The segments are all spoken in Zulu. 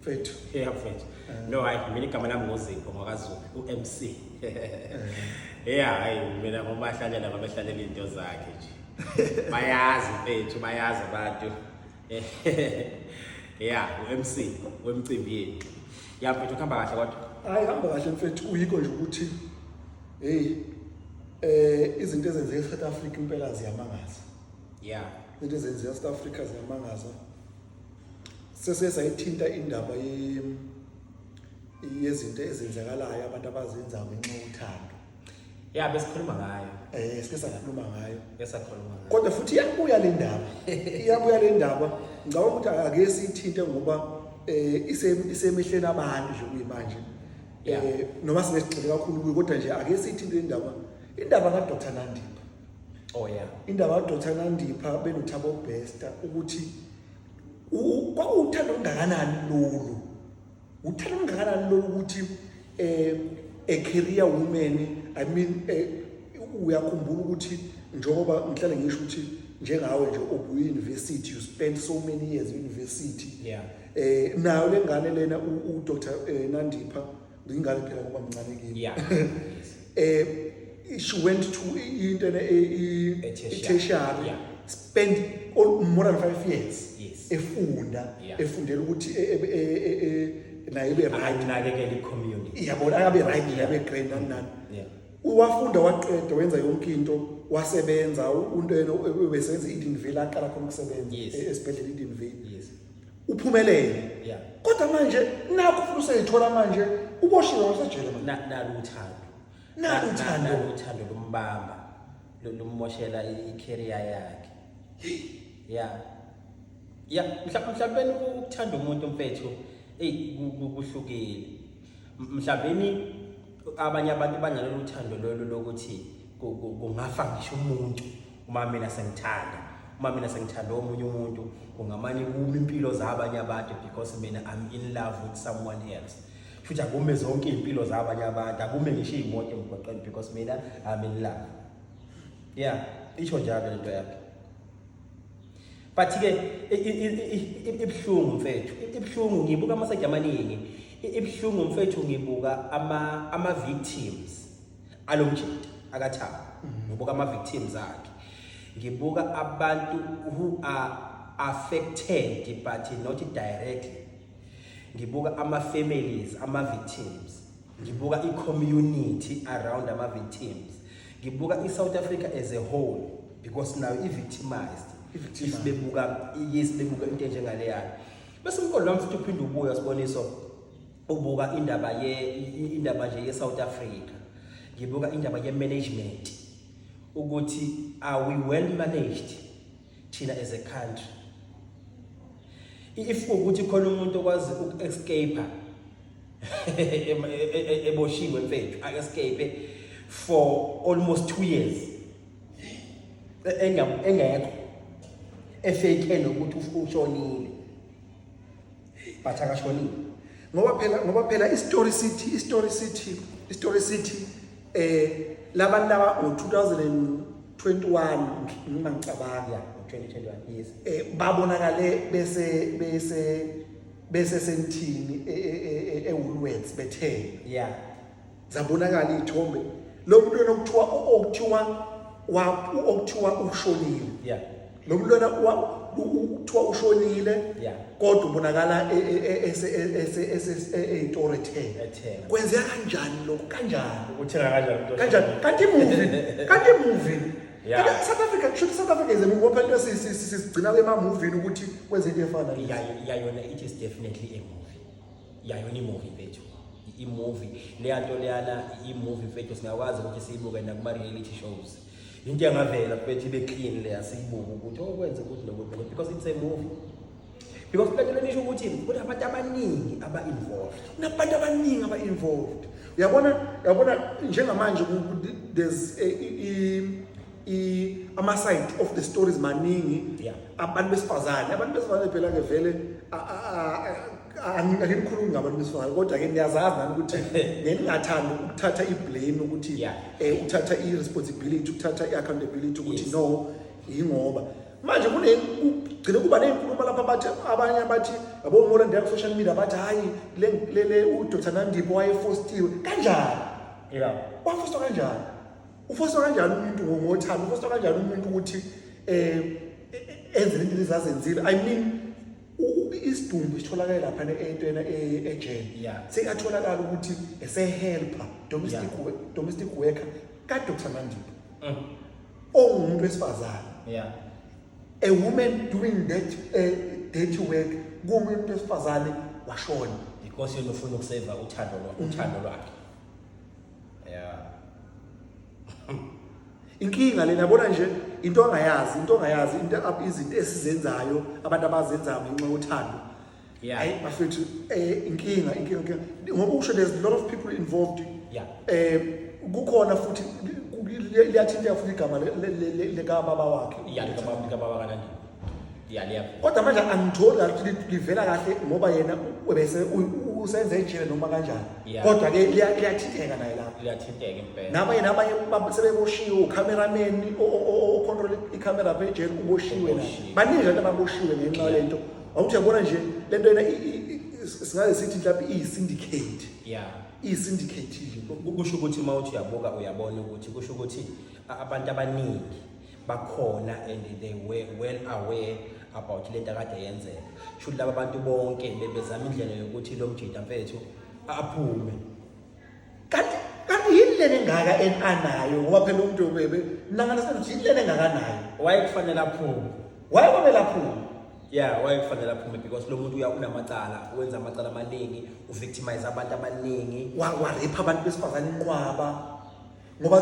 Mfethu. Yeah mfethu. Eh. No hayi mina igama lami ngoZipho ngwakaZulu uMC. Yeah hayi mina ngomahlanyana babehlalela into zakhe nje. Bayazi mfethu bayazi abantu. Yeah uMC wemcimbi yethu. Yeah mfethu kuhamba kahle kodwa. Hayi hamba kahle mfethu uyikho nje ukuthi hey eh izinto ezenzeka eSouth Africa impela ziyamangaza. Yeah. Izinto ezenzeka eSouth Africa ziyamangaza. sesike sayithinta indaba yezinto ezenzakalayo abantu abazenzayo ngenxa yothando ya besikhuluma ngayo eh sike sakhuluma ngayo esakhuluma ngayo kodwa futhi iyabuya le ndaba iyabuya le ndaba ngicabanga ukuthi ake siyithinte ngoba eh isemihleni abantu nje kuyimanje eh noma singesigxile kakhulu kuyo kodwa nje ake siyithinte le ndaba indaba ka Dr Nandipha oh yeah indaba ka Dr Nandipha benothabo besta ukuthi kwakuwuthanda olungakanani lolu uthanda olungakanani lolu ukuthi um eh, a career woman i mean eh, uyakhumbula ukuthi njengoba ngihlale ngisho ukuthi njengawe nje obuyi-university you spend so many years university yeah. um nayo le ngane lena udr eh, nandipha Ngingane phela ngoba mncane kimi. Yeah. Eh she went to into ne i tertiary. Yeah. Spend all more than 5 years. Yes. Efunda, yeah. efundela ukuthi e, e, e, e, naye be right. Anakekela i community. Iyabona akabe right, akabe great nani nani. Yeah. Uwafunda waqeda wenza yonke into wasebenza untwena ubesenza i-Edenville aqala khona ukusebenza esibhedlela i-Edenville uphumelele yeah kodwa manje nakho futhi useyithola manje uboshiwe wasejele manje Na- nalo uthando Nalo Na- uthando. nalo uthando lumbamba lu- lummoshela i- i-career yakhe ya ya mhla- mhlawumbeni u- ukuthanda umuntu mfethu eyi ku- ku- kuhlukile M- mhlawumbeni abanye abantu banalolu thando lolu lokuthi ku- ku- kungafa ngisho umuntu uma mina sengithanda uma mina sengithanda omunye umuntu kungamane kume impilo zabanye abantu because mina I'm in love with someone else futhi akume zonke iy'mpilo zabanye abantu akume ngisho iy'moto emgwaqeni because mina I'm in love yeah isho njalo le nto yakhe but ke ibuhlungu mfethu ibuhlungu ngibuka amaseja amaningi ibuhlungu mfethu ngibuka ama ama victims alomjita akathaba mm-hmm. ngibuka ama victims akhe ngibuka abantu who are affected but not directly ngibuka ama families ama victims ngibuka i community around ama victims ngibuka i South Africa as a whole because now i victimized if bebuka yes bebuka into enjengaleyo bese umqondo wami futhi uphinde ubuya siboniso ubuka indaba ye indaba nje ye South Africa ngibuka indaba ye management ukuthi are we well managed thina as a country if ukuthi khona umuntu okwazi uku escape eboshiwe mfethu a escape for almost 2 years engekho efake nokuthi ushonile but akashonile ngoba phela ngoba phela istory city istory city istory city eh labantu laba ngo-2021 noma ngicabanga ngo-2021 yes eh babonakale bese bese bese sentini ewulwets e, e, e, bethe yeah zabonakala izithombe lo mntwana okuthiwa okuthiwa wa okuthiwa ushonile yeah lo mntwana kuthiwa ushonile kodwa ubonakala eyitoro ethenga kwenzeka kanjani lokhu kanjani uthenga kanjani kanjani kanti imuvi kanti imuvi Yeah. South Africa kusho South Africa is a movie phela sisigcina kwema movie ukuthi kwenze into efana. Yeah, yeah, yona it is definitely a movie. yayona imovie mfethu imovie leya nto leyana imovie mfethu singakwazi ukuthi siyibuke nakuma-reality shows into yangavela mfethu ibe clean leya siyibuke ukuthi okwenza oh, ukuthi nokuthi nokuthi because it's a movie because lento lenisho ukuthi kunabantu abaningi aba-involved kunabantu abaningi aba-involved uyabona uyabona njengamanje there's i ama side of the stories maningi Yeah. abantu besifazane abantu besifazane phela ke vele a- a- a- a- angi- angikhulumi ngabantu besifazane kodwa ke niyazazi nani ukuthi ngeningathanda ukuthatha i-blame ukuthi Yeah. eh uthatha i-responsibility uthatha i-accountability ukuthi Yes. no yingoba manje kune kugcine kuba ney'nkulumo lapho abathi abanye abathi yabo ngola ndiya ku-social media abathi hhayi le- le- le udr nandipo wayefostiwe kanjani Yeah. wafostwa kanjani ufoswa kanjani umuntu ngothando ufoswa kanjani umuntu ukuthi um enze into ezazenzile i mean isidumbu sitholakale lapha entwena e-, ejele sekatholakala ukuthi esehelper domestic domestic worker kadokusamandiba mm. ongumuntu wesifazane a woman doing that uh, dirty work kumuntu wesifazane washona because yena ufuna ukuseva uthando lwakhe yeah inkinga lena bona nje into ongayazi into ongayazi into izinto esizenzayo abantu abazenzayo ngenxa yothando yeah hayi bafethu eh inkinga inkinga ngoba usho there's a lot of people involved yeah eh kukhona futhi liyathinteka futhi igama le ka baba wakhe yeah lika baba kanandi kodwa manje angitholi ukuthi livela kahle ngoba yena bese usenze ejele noma kanjani kodwa ke liyathinteka naye lapho liyathinteka impela naba yena abanye sebeboshiwe ucameraman ocontrol icamera phe ejele uboshiwe naye baningi abantu ababoshiwe ngenxa yalento awuthi yabona nje lento yena singaze sithi mhlawumbe iyisyndicate yeah iyisyndicate nje kusho ukuthi uma uthi uyabuka uyabona ukuthi kusho ukuthi abantu abaningi bakhona and they were well aware about lento akade yenzeka shuthi laba bantu bonke bebezama indlela yokuthi lo mjita mfethu aphume kanti kanti yini lena engaka enanayo ngoba phela umuntu bebe nangana senothi yini lena engakanayo wayekufanele aphume wayekwamele aphume yeah wayekufanele aphume because lo muntu uyakunamacala wenza amacala amaningi uvictimize abantu abaningi waripha abantu besifazane inqwaba ngoba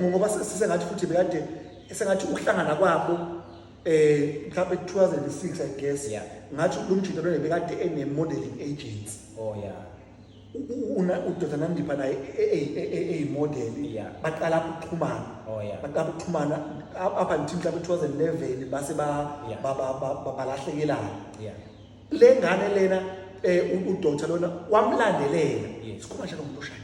ngoba sisengathi futhi bekade esengathi ukuhlangana kwabo eh mhlawumbe 2006 i guess yeah. ngathi lo mjita lona bekade ene modeling agents oh yeah una udoda nandipha naye eyimodel e, e, e, yeah. baqala ukuxhumana oh yeah baqala ukuxhumana up until mhlawumbe 2011 base ba yeah. balahlekelana yeah le ngane lena eh udoda lona wamlandelela yes. sikhuma njalo ngomuntu oshaya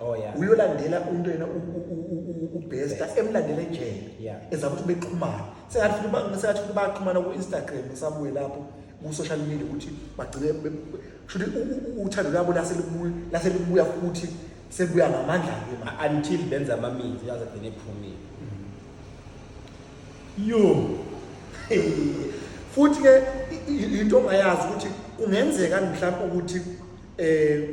Oh, yeah. uyolandela umuntu yena ubesta emlandela ejele Yeah. eza ukuthi bexhumana sengathi futhi ba- sengathi futhi baxhumana ku-instagram sabuye lapho ku-social media ukuthi bagcine be- be- shuthi u- u- u- uthando lwabo lase libuya- lase libuya futhi sebuya ngamandla-ke ma until benza amaminzi yaze gcine ephumile yo futhi ke i- i- into ongayazi ukuthi kungenzeka mhlawumbe ukuthi eh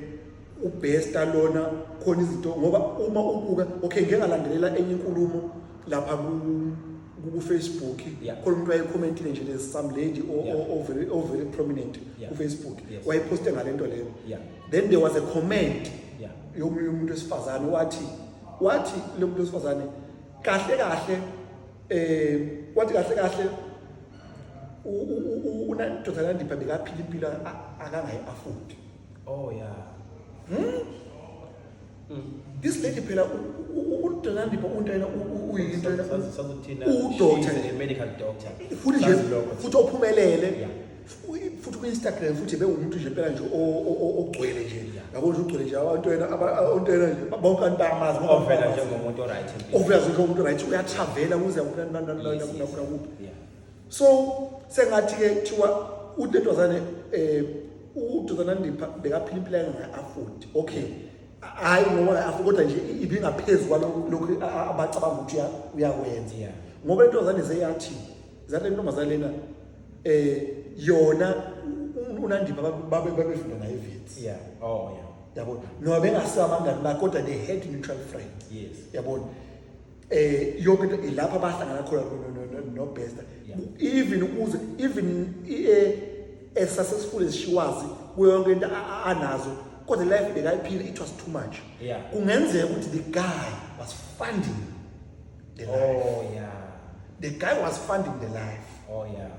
ubhesta lona khona izinto ngoba uma ubuka okay ngeke ngalandelela enye inkulumo lapha ku ku Facebook khona umuntu wayecommentile nje le some lady o very o very prominent ku Facebook wayeposte ngalento leyo then there was a comment yomunye umuntu wesifazane wathi wathi lo muntu wesifazane kahle kahle eh wathi kahle kahle unandoda landipha bekaphila impilo akangayi afford Oh yeah. Hmm? Mm. This lady phela uDonandipo unto yena uyinto yena sazothina udoctor a medical doctor. Futhi nje futhi ophumelele. Futhi ku Instagram futhi bewumuntu nje phela nje ogcwele nje. Yabo nje ugcwele nje abantu yena abantu yena nje bonke abantu bayamazi ngoba vela njengomuntu oright. Ovela njengomuntu oright uyatravela kuze ukunanana nakuphi. so sengathi ke kuthiwa utetwazane um eh, udodana ndipha bekaphila impilo yangayi-afodi okay hhayi ngoba ngayi-afodi kodwa nje ibingaphezu kwalokhu abacabanga ukuthi uyakwenza yeah. ngoba intozane seyathi zale ntombazane lena eh yona unandipha babefunda naye evits yeah oh yeah yabona noba bengasabangani bakhe kodwa they had mutual friends yes yabona eh yonke into ilapha bahlangana khona no bester even ukuze even eh, as successful as she was kuyo yonke into anazo kodwa life bekayiphila it was too much kungenzeka ukuthi the guy was funding the oh, life oh yeah the guy was funding the life oh yeah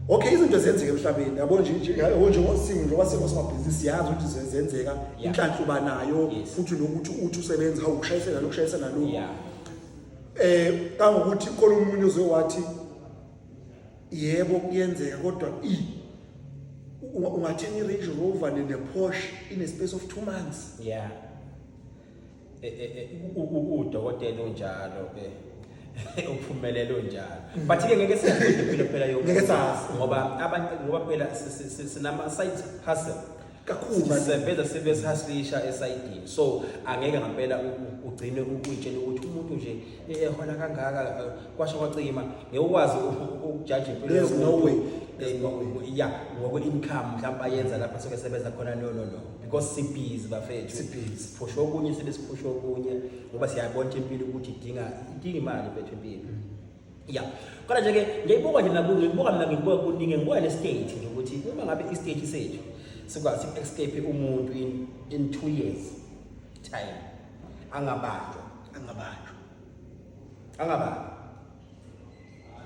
okay izinto zenzeka emhlabeni yabo nje nje yabo nje ngosingo njengoba sengosomabhizinisi siyazi ukuthi zenzeka inhlanhla uba nayo futhi nokuthi uthi usebenza hawu ushayisela lo ushayisela lo eh kangokuthi khona umuntu ozowathi yebo kuyenzeka kodwa i ungathenga i-Range Rover ne-Porsche in a space of 2 months yeah udokotela unjalo ke uphumelela unjalo mm. but ke ngeke siyaphinde phela phela yo ngeke sazi ngoba abantu ngoba phela sinama side hustle kakhulu sisebenza sibe sihaslisha esayidini so angeke ngempela ugcine ukuyitshela ukuthi umuntu nje ehona kangaka eh, kwasho kwacima ngewukwazi ukujaja impilo there's no way there's no way eh, yeah ngokwe income mhlawumbe ayenza lapha soke sebenza khona no no no because sibhizi bafethu sibhizi siphusha okunye sibe siphusha okunye ngoba siyabona impilo ukuthi idinga idinga imali bethu impilo mm. ya kodwa nje ke ngiyibuka nje nakuzo ngibuka mina ngibuka kuningi ngibuka le state nje ukuthi uma ngabe i state sethu sikwazi escape umuntu in in 2 years time angabanjwa angabanjwa angabanjwa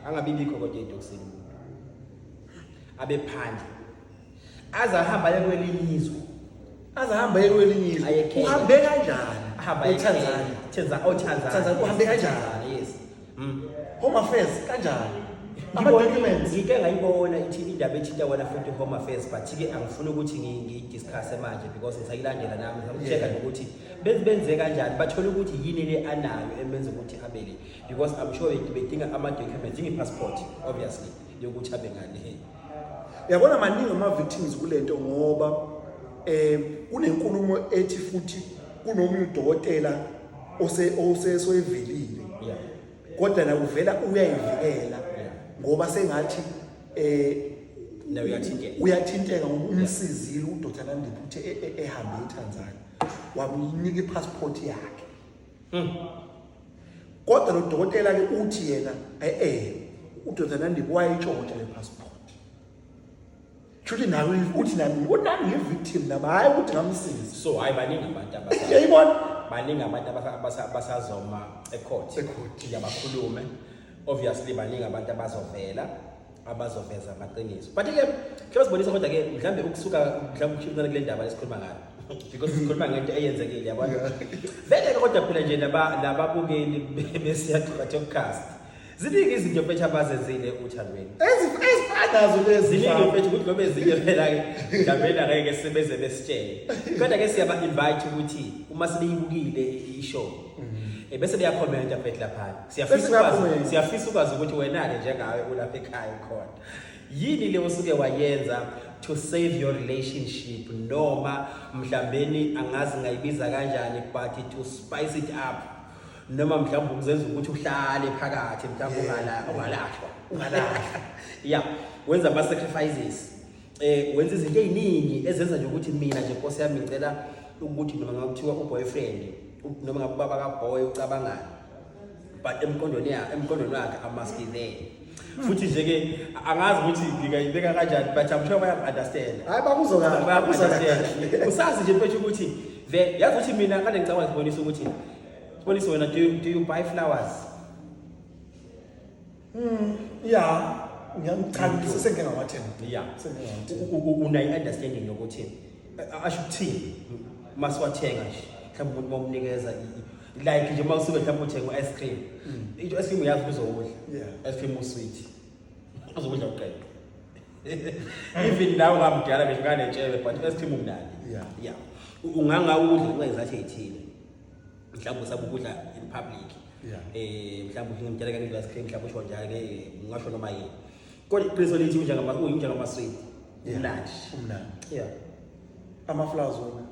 angabi bikho kodwa edokusini umuntu abe phandle aze ahamba aye kwelinye izwe aze ahamba aye kwelinye izwe Aye Kenya. uhambe kanjani ahamba eTanzania Tanzania oh Tanzania Tanzania, uhambe kanjani? Tanzania, Mm. Home affairs kanjani? Ama-documents. Ngike ngayibona ithi indaba ethinta wena futhi home affairs but-ke angifuni ukuthi ngi- ngiyidiscusse manje because ngisayilandela nami ngisakucheka Yeah. nokuthi benze benze kanjani bathole ukuthi yini le anayo emenza ukuthi abele because i'm sure be- bedinga ama-documents ingi-passport obviously yokuthi abe ngane Yabona maningi ama victims kulento ngoba eh kunenkulumo ethi futhi kunomunye udokotela ose osesoyivelile yeah kodwa na uvela uyayivikela ngoba sengathi eh na uyathinteka uyathinteka umsizile uDr Nandiphi uthe e, e, ehambe eTanzania wamnika ipassport yakhe hmm. kodwa lo dokotela ke uthi yena eh eh uDr Nandiphi wayitshontsha le passport Shuthi nawe uthi nami uthi nami ngi victim nami hayi ukuthi ngamsiza. So hayi baningi abantu abasa. Yayibona baningi abantu abasa- abasa- abasazoma ecourt. Ecourt. Nje bakhulume. Obviously baningi abantu abazovela abazoveza amaqiniso. But ke ke basibonisa kodwa ke mhlambe ukusuka mhlambe ukushintana kule ndaba esikhuluma ngayo. Because sikhuluma ngento eyenzekile yabona. Vele ke kodwa phela nje laba lababukeli besiyathukathe ukukast. Ziningi izinto mfethu abazenzile uthandweni. Ezif- ezifana nazo lezi Ziningi mfana. mfethu ukuthi noma ezinye phela ke Ndabela ngeke sebeze besitshele. Kodwa ke siyaba invite ukuthi uma sebeyibukile i- i-show eh, bese beyakhomenta mfethu lapha. Siyafisa Bese ukwazi beyakhomenta. siyafisa ukwazi ukuthi wena ke njengawe ulapha ekhaya khona. Yini le osuke wayenza to save your relationship noma mhlambeni angazi ngayibiza kanjani but to spice it up. noma mhlawumbe ukuzenza ukuthi uhlale phakathi mhlawumbe ungala ungalahlwa ungalahlwa yeah wenza ama sacrifices eh wenza izinto eziningi ezenza nje ukuthi mina nje Nkosi yami ngicela ukuthi noma ngakuthiwa uboyfriend noma ngababa ka boy ucabangani but emqondweni yakhe emqondweni wakhe amaski there futhi nje ke angazi ukuthi ngingayibeka kanjani but I'm sure bayaku-understand hayi bakuzokala bayaku-understand usazi nje mfethu ukuthi the yazi ukuthi mina kade ngicabanga ngibonisa ukuthi sibonise wena do you, do you buy flowers mm ya ngiyamchanisa sengingawathemba ya unayi-understanding yokuthi asho ukuthini masiwathenga nje mhlawumbe umuntu bomnikeza like nje uma usuke mhlawumbe uthenga u-ice cream mm. into ice cream uyazi kuzokudla ice cream usweet uzokudla uqeda even nawe ungamdala ngisho kanetshebe but ice cream umnandi ya ungangawudla ngenxa yezathi ey'thile mhlawumbe usabe ukudla in public um mhlawumbe uhinga mdala kange ice cream mhlawumbe usho njalo ke ngingasho noma yini kodwa iqiniso lithi unjengamasweet umnandi umnandi ya amaflowers wona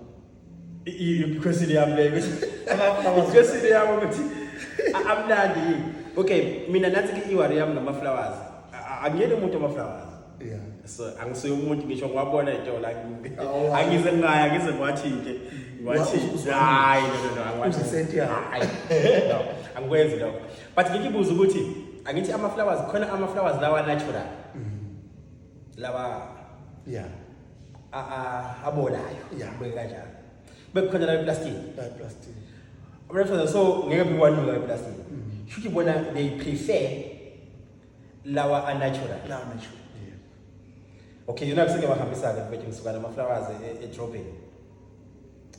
ikhwesile yami leyo ikhwesile yami ukuthi amnandi yini okay mina nathi ke-iwari yami ngamaflowers angiyeni umuntu amaflowers yeah so angisuye umuntu ngisho ngiwabona itolo oh, angize ngaya ngize ngiwathinke ngiwathinke hayi no no no angiwathinke no angikwenzi lokho but ngikibuza ukuthi angithi ama-flowers khona ama-flowers lawa natural mm. laba yeah abolayo yeah beke kanjalo bekukhona la plastic la plastic abafana so ngeke bikwanuka la plastic mm-hmm. shuthi bona they prefer lawa a natural lawa natural yeah okay yona kuseke bahambisa ke mfethu ngisuka nama flowers e, e dropping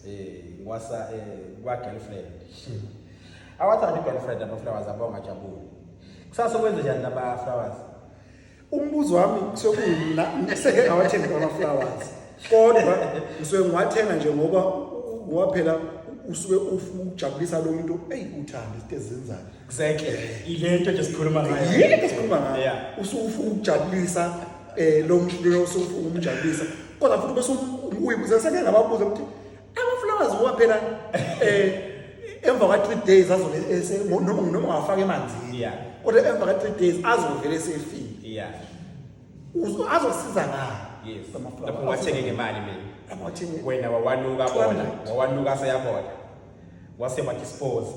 eh ngwasa eh kwa girlfriend hmm. awathanda i girlfriend ama flowers abonga jabule kusasa kwenze njani laba flowers Umbuzo wami kusuke kuyimina ngiseke ngawathenga ama flowers. Kodwa ngisuke ngiwathenga nje ngoba u- ngoba phela usuke ufuna ukujabulisa lo muntu eyi uthanda izinto ezenzayo. Exactly. Ilento nje sikhuluma ngayo. Yini ke sikhuluma ngayo? Yeah. Usuke ufuna ukujabulisa eh lo muntu lo usuke ufuna ukumjabulisa. Kodwa futhi bese uyibuza seke ngababuza ukuthi amaflowers ngoba phela eh emva kwa 3 days azobe noma noma afaka emanzini yeah kodwa emva kwa 3 days azovele sefile yeah azosiza ngayo yes amaflowers lapho wathenge ngemali mina lapho wathenge wena wawanuka bona wawanuka sayabona wase wathi spose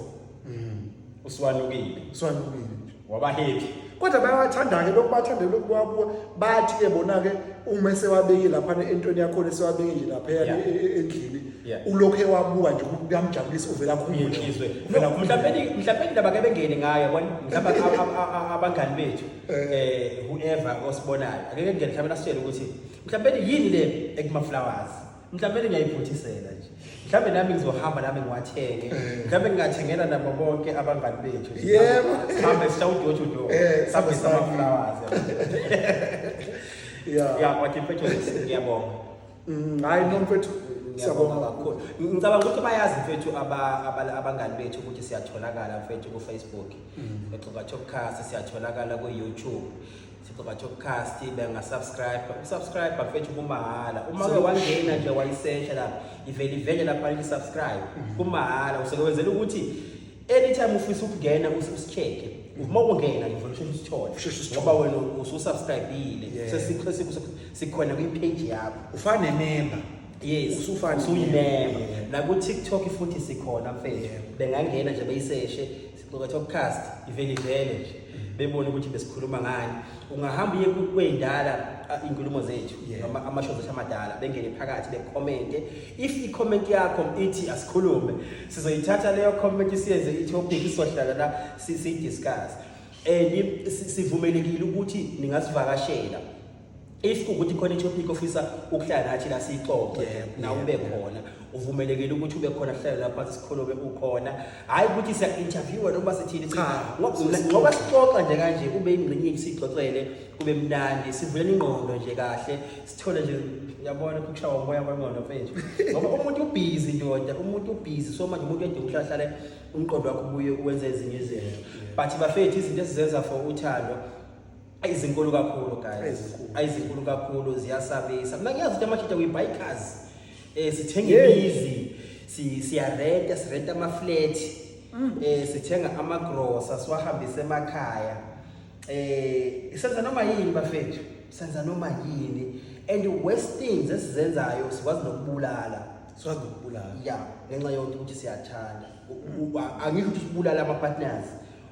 Mm. Usiwanukile. Usiwanukile nje. Waba happy. Kodwa bayathanda ke lokhu bathanda lokhu kwakuwa bathi ke bona ke uma esewabeke lapha entweni yakho lesewabeke nje lapha e, e, endlini ulokhu ewabuka nje kuyamjabulisa uvela khumule. Uvela khumule. Mhlawumbe mhlawumbe indaba ke bengene ngayo yabona mhlawumbe abangani bethu eh. eh whoever osibonayo. Ake ngeke mhlawumbe nasitshele ukuthi mhlawumbe yini le ekuma flowers. mhlawumbe ngingayiphuthisela nje mhlawumbe nami ngizohamba nami ngiwathenge eh. mhlawumbe ngingathengela nabo bonke abangani bethu yebo sihambe sisha udoor to door eh, sihambe samaflowers ya ya kwathi mfethu ngiyabonga mm, hayi no mfethu siyabonga kakhulu ngicabanga ukuthi bayazi mfethu abangani bethu ukuthi siyatholakala mfethu kufacebook mm. mfethu ngathokukhasi siyatholakala kuyoutube Thixo bathi ucast bengasubscribe usubscribe bafethu kumahhala uma ke wangena nje wayisesha lapha ivele ivele lapha ithi subscribe mm-hmm. kumahhala usekwenzela ukuthi anytime ufisa ukungena usicheke uma ungena ngivele usheshe usithole ngoba wena ususubscribile sesikhona kwi-page yakho ufane nememba yes usufana usuyimemba naku-tiktok futhi sikhona mfethu bengangena nje beyiseshe ngoba topcast ivele ivele nje bebone ukuthi besikhuluma ngani ungahamba uye kwendala inkulumo zethu noma amashow zethu amadala bengene phakathi becommente if i-comment yakho ithi asikhulume sizoyithatha leyo comment siyenze i-topic sizohlala la siyidiscuss and sivumelekile ukuthi ningasivakashela if kukuthi khona itopic ofisa ukuhlala nathi la siyixoxe na ube khona uvumelekile ukuthi ube khona hlale lapha sikhulume ukhona hayi ukuthi siya interviewer noma sithini cha ngoba sixoxa nje kanje ube ingxenye sixoxele kube mnandi sivulele ingqondo nje kahle sithole nje yabona ukushawa umoya kwengqondo mfethu ngoba umuntu ubhizi ndoda umuntu ubhizi so manje umuntu edinga ukuhlahlale umqondo wakho ubuye uwenze ezinye izinto but bafethu izinto esizenza for uthando Ayi zinkulu kakhulu guys. Ayi zinkulu kakhulu ziyasabisa. Mina ngiyazi ukuthi amajita we buy cars. Eh sithenga imizi, si siyarenta, sirenta ama flat. Mm. Eh sithenga ama grocer siwahambise emakhaya. Eh senza noma yini bafethu. Senza noma yini. And the worst things esizenzayo sikwazi nokubulala. Sikwazi nokubulala. Yeah, ngenxa yokuthi siyathanda. Angisho ukuthi sibulala ama partners.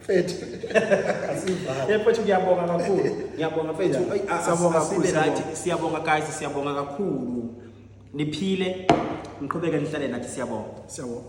Mfethu. Asivale. Eh mfethu ngiyabonga kakhulu. Ngiyabonga mfethu. Ayi, a- a- Siyabonga asibe kakhulu, right. siyabonga. Siyabonga guys, siyabonga kakhulu. Niphile. Niqhubeke nihlale nathi siyabonga. Siyabonga.